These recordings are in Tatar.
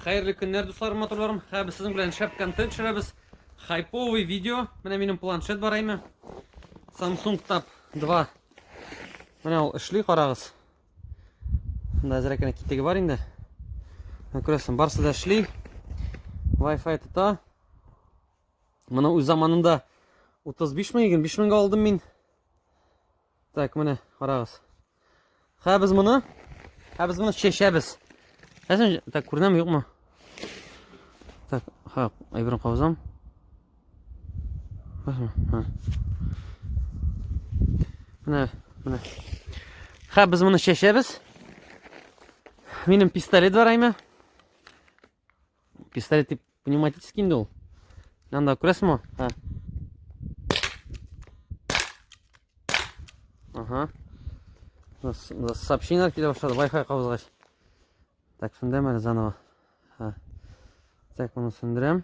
Хәерле көннәр, дусларым, матурларым. Һә без сезнең белән шәп контент төшерәбез. Хайповый видео. Менә минем планшет бар әйме. Samsung Tab 2. Менә ул эшли, карагыз. Монда әзрәк кенә китеге бар инде. Менә күрәсең, барсы да эшли. Wi-Fi тота. Моны үз заманында 35 мең, 25 меңгә алдым мин. Так, менә, карагыз. Хә без моны, хә без моны чәчәбез. Әсен, так, күренәме, юкмы? Так, ха, әйберен кабызам. Менә, менә. Хә без моны чәчәбез. Минем пистолет бар, әйме? Пистолет тип пневматический инде ул. Анда күрәсеңме? Ха. Ага. Сообщение килә башлады, Wi-Fi кабызгач. Так, шунда мәле заново. Ха. Так, моны сүндерәм.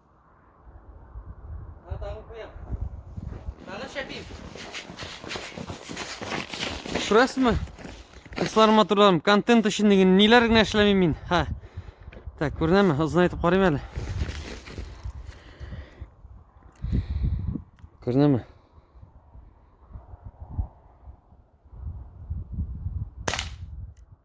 Шурасмы? Кыслар матурларым, контент өчен деген ниләр генә эшләмим мин. Ха. Так, күренәме? Озын әйтеп карыйм әле. Күренәме?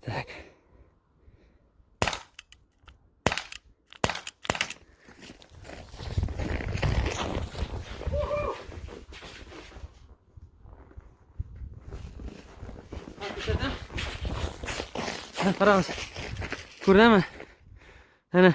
Так. Раз. Курдема. Ана.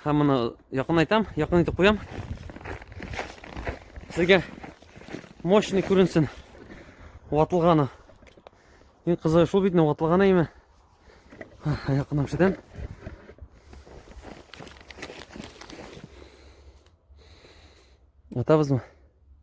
Һәм моны якын айтам, якын итеп куям. Сезгә мощный күренсен. Ватылганы. Иң кызыгы шул бит, ватылганы име? Якыннан күрсәтәм. Атабызмы?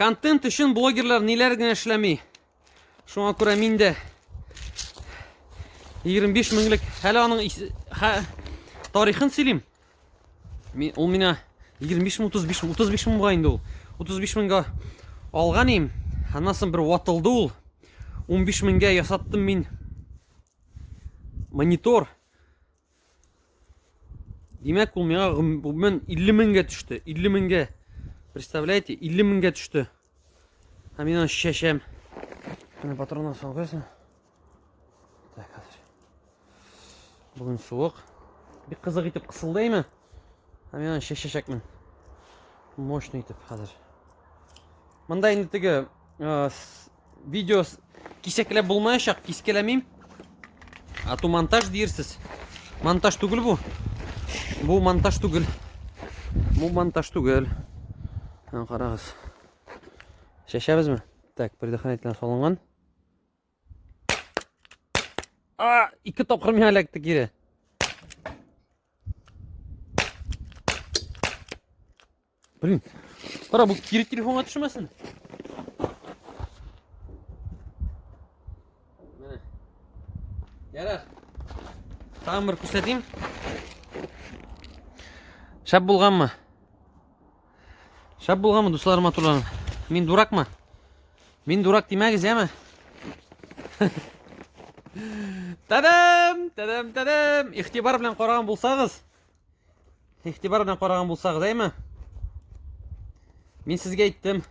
Контент өчен блогерлар ниләр генә эшләми. Шуңа күрә мин дә 25 меңлек әле аның хә, тарихын сөйлим. Мин ул мина 25 мең 35 мең 35 меңга инде ул. 35 меңга алган им. Аннан соң бер ватылды ул. 15 меңгә ясаттым мин монитор. Димәк, ул миңа гомумән 50 меңгә төште. 50 меңгә. Представляете, 50 меңгә төште. Һәм мин аны чәчәм. Менә патроннар салгансың. Так, хәзер. Бүген суык. Бик кызык итеп кысылдаймы? Һәм мин аны чәчәчәкмен. Мощный итеп хәзер. Монда инде теге Видео кисәкләп булмаячак, кискәләмим. Ату монтаж диерсез. Монтаж түгел бу. Бу монтаж түгел. Бу монтаж түгел. Һәм карагыз. Шәшәбезме? Так, предохранительно салынган. А, ике тапкыр миңа эләкте кире. Блин, Кара, бу кире телефонга төшмәсен. Менә. Ярар. Тагын бер күрсәтим. Шәп булганмы? Шәп булганмы, дуслар, матурларым? Мин дуракмы? Мин дурак димәгез, яме? Тадам! Тадам, тадам! Ихтибар белән караган булсагыз, Игътибар белән караган булсагыз, әйме? Мин сезгә әйттем.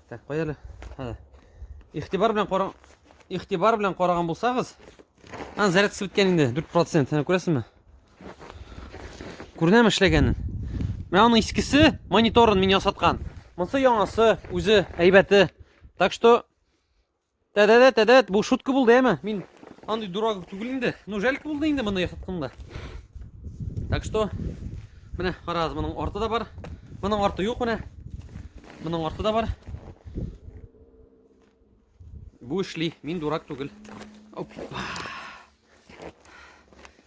Так, кая әле? Һә. Игътибар белән караган игътибар белән караган булсагыз, ан зарядкасы беткән инде 4%. Һәм күрәсезме? Күренәме эшләгәнен? Менә аның искесе мониторын мин ясаткан. Монсы яңасы, үзе әйбәте. Так что Дә, дә, дә, дә, бу шутка булды, әме. Мин андый дурак түгел инде. Ну, жалко булды инде моны яхытканда. Так что, менә карагыз, моның арты да бар. Моның арты юк менә. Моның арты да бар. Бу эшли, мин дурак түгел. Опа.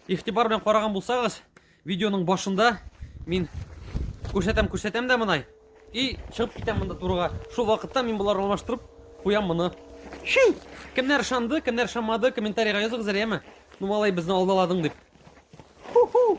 Игътибар белән караган булсагыз, видеоның башында мин күрсәтәм, күрсәтәм дә монай. И чыгып китәм монда турыга. Шул вакытта мин болар алмаштырып куям моны. Ши! Кемнәр шанды, кемнәр шамады, комментарийга языгыз әле, яме. Ну, малай, безне алдаладың дип. Ху-ху!